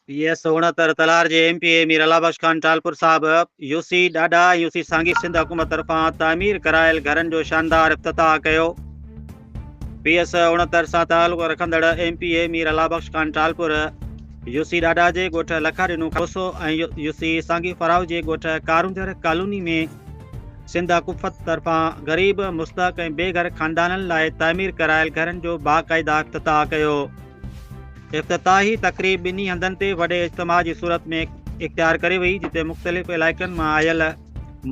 P S سهڻا تر تلار جي M P A Mir Allah Bakhsh Khan Talpur صاحب يو سي ڏاڏا ۽ يو سي سانگي سنڌ حڪومت طرفان تعمير ڪرايل گهرن جو شاندار افتتاح ڪيو پي ايس اڻتر سان تعلق رکندڙ M P A Mir Allah Bakhsh Khan Talpur U C Dada جي ڳوٺ لکا ڏنو کوسو ۽ يو سي سانگي فراو جي ڳوٺ ڪارونجر ڪالوني ۾ سنڌ حڪومت طرفان غريب مستحق ۽ بي گهر خاندانن لاء تعمير ڪرايل گهرن جو باقاعده افتتاح ڪيو افتتاحي تقريب ٻنهي هنڌن تي وڏي اجتماع جي صورت ۾ اختيار ڪري وئي جتي مختلف علائقن مان آيل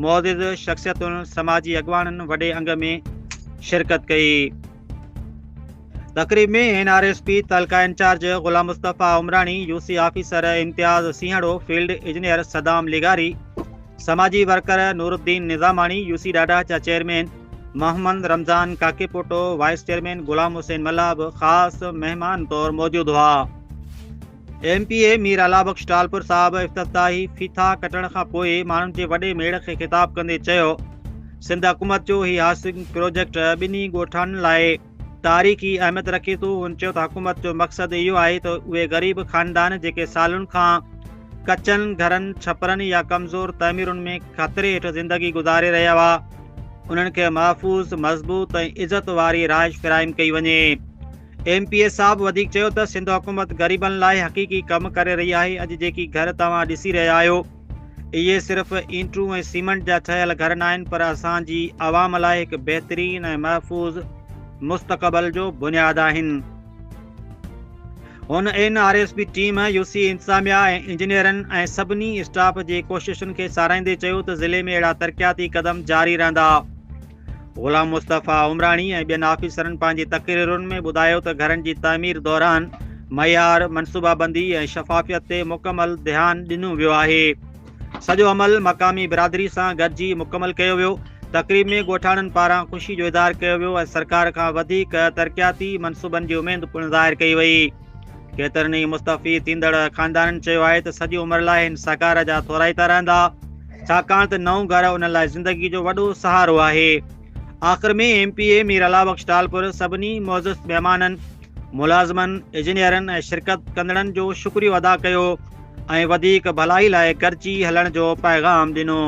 معزز شخصيتن سماجي اڳواڻن وڏي انگ ۾ شرڪت ڪئي تقريب ۾ اين آر ايس پي تعلقه incharge Ghulam Mustafa Umrani U C officer Imtiaz Sehar field engineer Saddam لغاري سماجي worker Noor Uddin Nizamani U C ڏاڏا چا chairman Muhammad Ramzan Kakepoto, vice chairman Ghulam Hussain Mallah به خاص مهمان طور موجود هئا. M P A Mir Allah Bakhsh Talpur صاحب افتتاحي ڦيٿا ڪٽڻ کان پوء ماڻهن جي وڏي ميڙ کي خطاب ڪندي چيو سنڌ حڪومت جو هي هاسنگ پروجيڪٽ ٻنهي ڳوٺاڻن لاء تاريخي اهميت رکي ٿو هن چيو ته حڪومت جو مقصد اهو آهي ته اهي غريب خاندان جيڪي سالن کان ڪچن گهرن ڇپرن يا ڪمزور تعميرن ۾ خطري هيٺ زندگي گذاري رهيا هئا انهن کي محفوظ مضبوط ۽ عزت واري رهائش فراهم ڪئي وڃي ايم پي اي صاحب وڌيڪ چيو ته سنڌ حڪومت غريبن لاء حقيقي ڪم ڪري رهي آهي اڄ جيڪي گهر توهان ڏسي رهيا آهيو اهي صرف اينٽون ۽ سيمنٽ جا ٺهيل گهر ناهن پر اسان جي عوام لاء هڪ بهترين ۽ محفوظ مستقبل جو بنياد آهن هن N R S B team U C انتظاميا ۽ انجنيئرن ۽ سڀني اسٽاف جي ڪوششن کي ساراهيندي چيو ته ضلعي ۾ اهڙا ترقياتي قدم جاري رهندا غلام مصطفيٰ عمراڻي ۽ ٻين آفيسرن پنهنجي تقريرن ۾ ٻڌايو ته گهرن جي تعمير دوران معيار، منصوبابندي ۽ شفافيت تي مڪمل ڌيان ڏنو ويو آهي. سڄو عمل مقامي برادري سان گڏجي مڪمل ڪيو ويو. تقريب ۾ ڳوٺاڻن پاران خوشي جو اظهار ڪيو ويو ۽ سرڪار کان وڌيڪ ترقياتي منصوبن جي اميد پڻ ظاهر ڪئي وئي. ڪيترن ئي مستعفي ٿيندڙ خاندانن چيو آهي ته سڄي عمر لاء هن سهڪار جا ٿورائتا رهندا ڇاڪاڻ ته نئون گهر انهن لاء زندگي جو وڏو سهارو آهي آخر ۾ M P A Mir Allah Bakhsh Talpur سڀني معزز مهمانن ملازمن اجنيئرن ۽ شرڪت ڪندڙن جو شڪريو ادا ڪيو ۽ وڌيڪ ڀلائي لاء گڏجي هلڻ جو پيغام ڏنو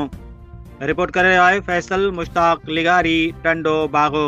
رپورٽ ڪري رهيو آهي فيصل مشتاق لغاري ٽنڊو باغو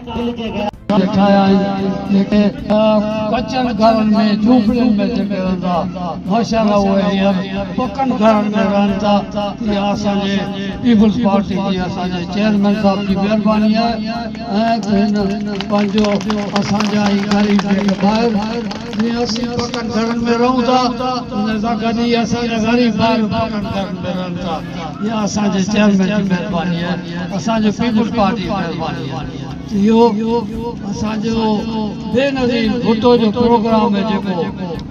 ڏٺا آهن، جيڪي ڪچن گهرن ۾ جهوپڙين ۾ جيڪي رهندا، ماشاءالله اهي هينئر پڪن گهرن ۾ رهن ٿا، اها اسان جي پيپلز پارٽي جي اسان جي چيئرمين صاحب جي مهرباني آهي ۽ هن پنهنجو اسان جا هي غريب جيڪي ڀائر جيئن اسين پڪن گهرن ۾ رهون ٿا، ان سان گڏ هي اسان جا غريب ڀائر به پڪن گهرن ۾ رهن ٿا. اها اسان جي چيئرمين جي مهرباني آهي، اسان جي پيپلز پارٽي جي مهرباني آهي، اهو اسان جو بي نظير ڀٽو جو پروگرام آهي جيڪو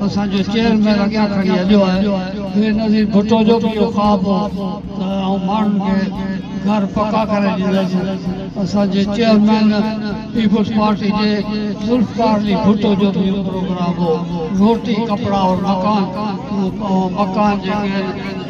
اسان جو چيئرمين اڳيان کڻي هليو آهي، بي نظير ڀٽو جو به اهو خواب هو ته آئون ماڻهن کي گهر پڪا ڪري ڏيندس، اسان جي چيئرمين پيپلز پارٽي جي ذوالفقار علي ڀٽو جو به اهو پروگرام هو، روٽي، ڪپڙا اور مڪان، اهو مڪان جيڪي آهن.